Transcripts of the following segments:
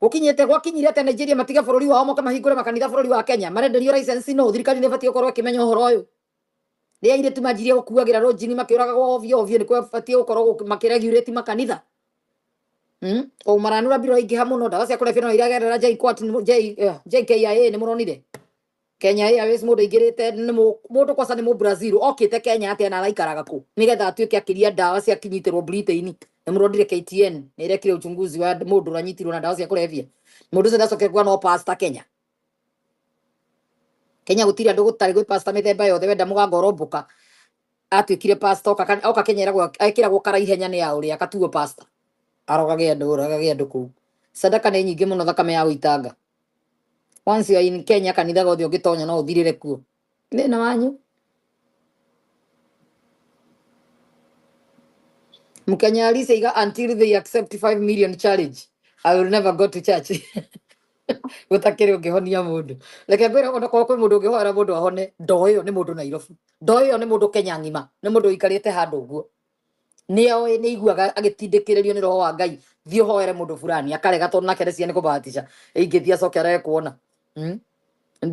Gũkinyĩte gwakinyire atĩ Nigeria matige bũrũri wao moke mahingũre makanitha bũrũri wa Kenya? Marenderio license nũ? Thirikari nĩ ĩbatiĩ gũkorwo ĩkĩmenya ũhoro ũyũ. Rĩrĩa airĩtu manjirie gũkuagĩra rũnjini makĩũragagwo ovyo ovyo, nĩ kwabatiĩ gũkorwo gũk- makĩregulate makanitha. Mm? O maranura mbirũ iraingĩha mũno, ndawa cia kũrebia no iragerera JKUAT, nĩ mũ- J- eh, JKIA nĩ mũronire. Kenya Airways mundu ingirite mundu kwasa ni mu Brazil okite Kenya atia na araikaraga ku nigetha atuike akiria ndawa cia kinyitirwo Britain ni murondire KTN ni irekire uchunguzi wa mundu ranyitirwo na ndawa cia kurevia mundu ucio ndacoke kwa no pastor Kenya Kenya gutiri andu gutari gwi pastor mithemba yothe wenda mugango romboka atuikire pastor oka Kenya eragwo ekiragwo kara ihenya ni ya uri akatuo pastor arogage andu uragage andu ku sadaka ni nyingi muno thakame ya uitanga once you are in kenya kanitha gothe ũngĩtonya no ũthirĩre kuo thĩna wanyu mkenya alisaiga until they accept 5 million challenge i will never go to church gutakiri ungihonia mundu reke ngwire ona kwa kwi mundu ungihoera mundu ahone ndoo iyo ni mundu nairobi ndoo iyo ni mundu kenya ngima ni mundu ikarite handu guo nĩoĩ nĩaiguaga agĩtindĩkĩrĩrio nĩ roho wa ngai thiĩ ũhoere mũndũ fulani akarega tondũ nake nĩcia nĩ kũbahatisha ingĩthiĩ acoke arege kuona mm?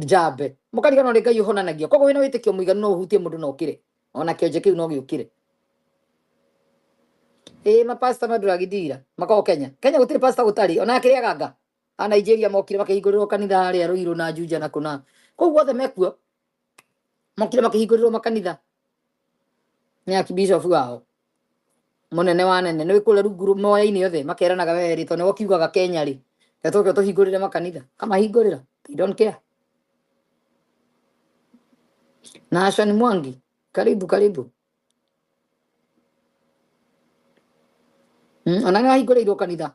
njambe mũkariganwo nĩ ngai ũhonanagia koguo wĩna wĩtĩkio mũiganu no ũhutie mũndũ na ũkĩre ona kĩonje kĩu no gĩũkĩre ĩĩ mapasta mandũragithira makao kenya kenya gũtirĩ pasta gũtarĩ ona akĩrĩaga nga a Nigeria mokire makĩhingũrĩrwo kanitha harĩa Ruiru na Juja na Kuna kũu guothe mekuo mokire makĩhingũrĩrwo makanitha nĩ akibishofu wao munene wa nene nä kå rä a rungu moya-inä othe makeranaga we rä tondå nä kiugaga kenya rä na tå ke tå hingå rä re makanitha kamahingå rä ra na ashani mwangi karibu karibu mm, ona nä wahingå rä irwo kanitha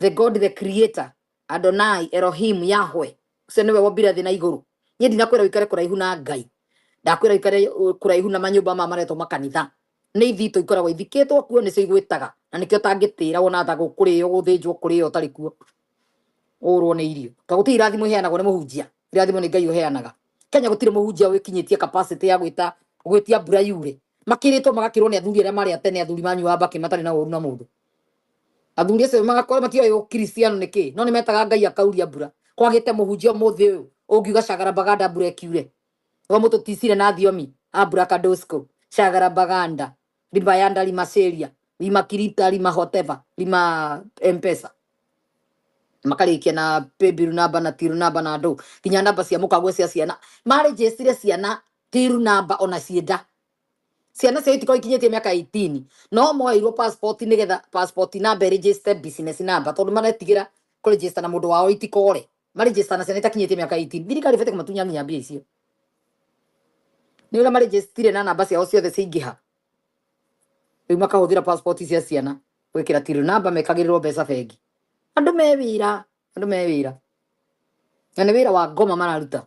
the god the creator adonai elohim yahwe ucio niwe wombire thĩ na igũrũ niĩ ndinakwĩra ũikare kũraihu na ngai ndakwĩra ũikare ũ- kũraihu na manyũmba maya maretwo makanitha nĩ ithitũ ikoragwo ithikĩtwo kuo nĩcio igwĩtaga na nĩkĩo ũtangĩtĩra wona tha gũkũrĩo gũthĩnjwo kũrĩo ũtarĩ kuo ũrwo nĩ irio to gũtirĩ irathimo iheanagwo nĩ mũhunjia irathimo nĩ ngai ũheanaga kenya gũtirĩ mũhunjia wĩkinyĩtie capacity ya gwĩta gwĩtia mbura yure makĩrĩtwo magakĩrwo nĩ athuri arĩa marĩ atene athuri manyuaga mbakĩ matarĩ na ũru na mũndũ athuri acio magakora matioĩ ũkristiano nĩ kĩĩ no nĩ metaga ngai akauria mbura kwagĩte mũhunjia mũthĩ ũyũ ũngiuga cagara baganda mbura ĩkiure wa mũtũ ticire na thiomi ambura kadosko cagara baganda lima yanda lima seria lima kirita lima hoteva lima mpesa makarĩkia na paybill namba na till namba na ndũ nginya namba cia mũkagwe cia ciana marĩnjĩcire ciana till namba ona cienda ciana ciao itikorwo ikinyĩtie mĩaka 18 no moeirwo passport nĩgetha passport number register business number tondũ maretigĩra kũ register na mũndũ wao itikore ma register na ciana itakinyĩtie mĩaka 18 thirikari ĩbatiĩ kũmatunya nginya mbia icio nĩ ũrĩa marĩnjĩcitire na namba ciao ciothe ciaingĩha rĩu makahũthĩra passport cia ciana gwĩkĩra tirũ namba mekagĩrĩrwo mbeca bengi andũ me wĩra andũ me wĩra na nĩ wĩra wa ngoma mararuta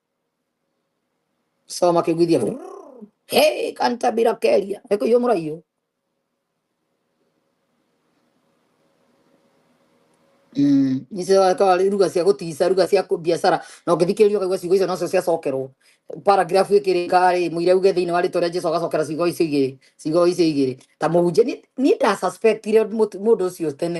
Sawa makĩgwithia hey, kanta bila keria eko iyo mura iyo Mm, ikawa ruga cia gutiisa ruga cia biacara na ũngĩthikĩrĩria ũkaigua ciugo icio nocio ciacokerwo paragraph ĩkĩrĩka rĩ mũira uge thĩinĩ wa rĩtwa rĩa jesu agacokera ciugo icio igĩrĩ ciugo icio igĩrĩ ta mũhunjia niĩ ndasuspectire mũndũ ũcio tene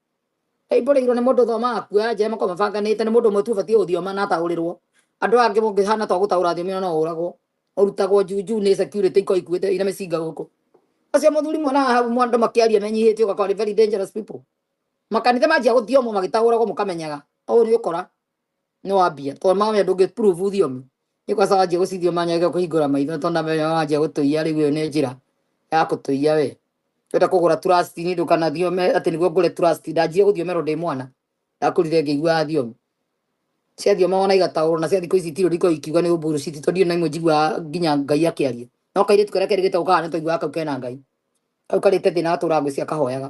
aimbũrĩirwo nĩ mũndũ thoma akua njema kwa mabanganĩte nĩ mũndũ ũmwe tu ũbatiĩ gũthioma na ataũrĩrwo andũ aya angĩ mũngĩhana twa gũtaũra thiomi ona no ũragwo ũrutagwo njunju nĩ security iko ikuĩte ina mĩcinga gũkũ acio mũthuri mwana wa hau mwa- andũ makĩaria menyihĩtie ũgakora nĩ very dangerous people makanitha manjia gũthiomwo magĩtaũragwo mũkamenyaga ũũ nĩ ũkora nĩ wa mbia tondũ mawĩa ndũngĩ prove thiomi nĩ kwa sababu anjia gũcithio manyage kũhingũra maitho tondũ namenya wanjia gũtũia rĩu ĩyo nĩ njĩra ya gũtũia we wenda kũgũra trust ni ndũkanathiome atĩ nĩguo ngũre trust ndanjire gũthiomerwo ndĩ mwana ndakũrire ngĩiguaga thiomi cia thioma wona igataũrwo na cia thikũ ici itirĩ ndiko ikiuga nĩ ũmburu citi tondũ ndirĩ na imwe njiguaga nginya ngai akĩaria no kairĩtu karĩa kerĩ gĩtagwo kahana tũiguaga kau kena ngai kau karĩte thĩna gatũraga ngwĩciria kahoyaga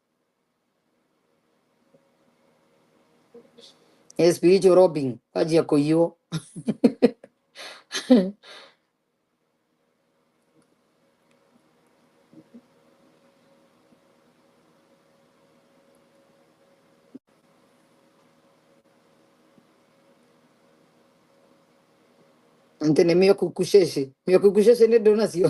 Espiritu Robin, kwanjia kũiywo. Ante nĩ mĩokukucece. Mĩokukucece nĩ ndũnacio.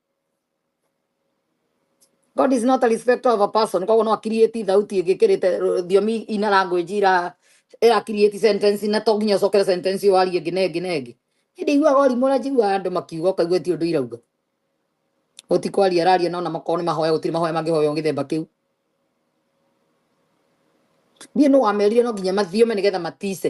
God is not a respecter of a person koguo no akiriĩti thauti ĩngĩkĩrĩte rũ- thiomi ina language ira ira create sentence na to nginya ũcokere sentence ĩyo warie ĩngĩ na ĩngĩ na ĩngĩ hĩndĩ iguaga ũrimũ ũrĩa njiguaga andũ makiuga ũkaigua ti ũndũ irauga ũtikwaria araria nona makorwo nĩ mahoya gũtirĩ mahoya mangĩhoywo gĩthemba kĩu niĩ nũ wamerire no nginya mathiome nĩgetha matice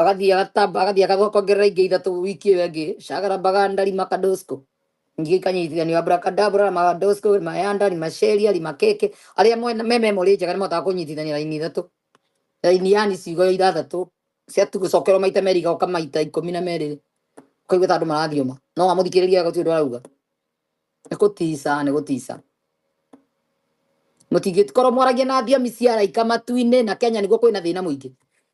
agathiĩ agatamba agathiĩ agathũka kuongerera ingĩ ithatũ wiki ĩyo ĩngĩ cagara mbaga ndari makadosko ingĩ ikanyitithanio abrakadabra na makadosko mayanda ni maceria ni makeke arĩa mwena me memory njega nĩ mahotaga kũnyitithania raini ithatũ raini yani ciugo ithathatũ cia tu gũcokerwo maita merĩ igoka maita ikũmi na merĩ ũkaigua ta andũ marathioma no wamũthikĩrĩria gũtirĩ ũndũ arauga nĩ gũtica nĩ gũtica mũtingĩkorwo mwaragia na thiomi cia araika matu-inĩ na kenya nĩguo kwĩna thĩna mũingĩ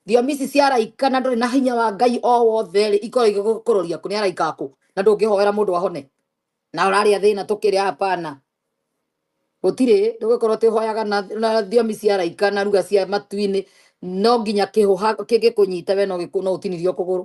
thiomi ici cia araika na ndũrĩ na hinya wa ngai o wothe rĩ ikorwo igĩgũkũrũria kũ nĩ araika akũ na ndũngĩhoera mũndũ ahone na ũrarĩa thĩna tũkĩrĩ hapana gũtirĩ ndũgĩkorwo atĩ ũhoyaga na, na thiomi cia araika na ruga cia matu-inĩ no nginya kĩhũha kĩngĩkũnyita we no gĩkũ- no ũtinirio kũgũrũ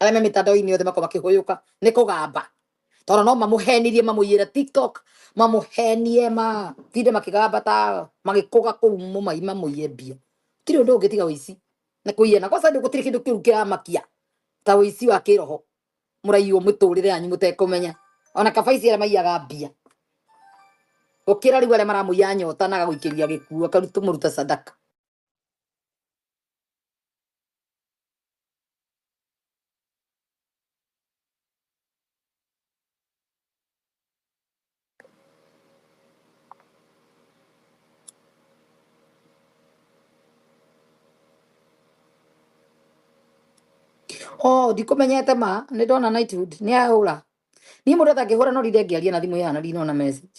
arĩa me mĩtandao-inĩ yothe makorwo makĩhũyũka nĩ kũgamba tondũ no mamũhenirie mamũiyĩre tiktok mamũhenie matinde makĩgamba ta magĩkũga kũu mũmai mamũiye mbia gũtirĩ ũndũ ũngĩ tiga ũici na kũiyana kwaca nĩ gũtirĩ kĩndũ kĩu kĩramakia ta ũici wa kĩroho mũraiywo mĩtũrĩre yanyu mũtekũmenya ona kabaici arĩa maiyaga mbia gũkĩra rĩu arĩa maramũiya nyota na agagũikĩria gĩkuũ akarutwo mũruta sadaka oh ndikũmenyete ma nĩ ndona nightwood nĩ ahũra niĩ mũndũ atangĩhũra no rire ngĩaria na thimũ ĩhana ndinona message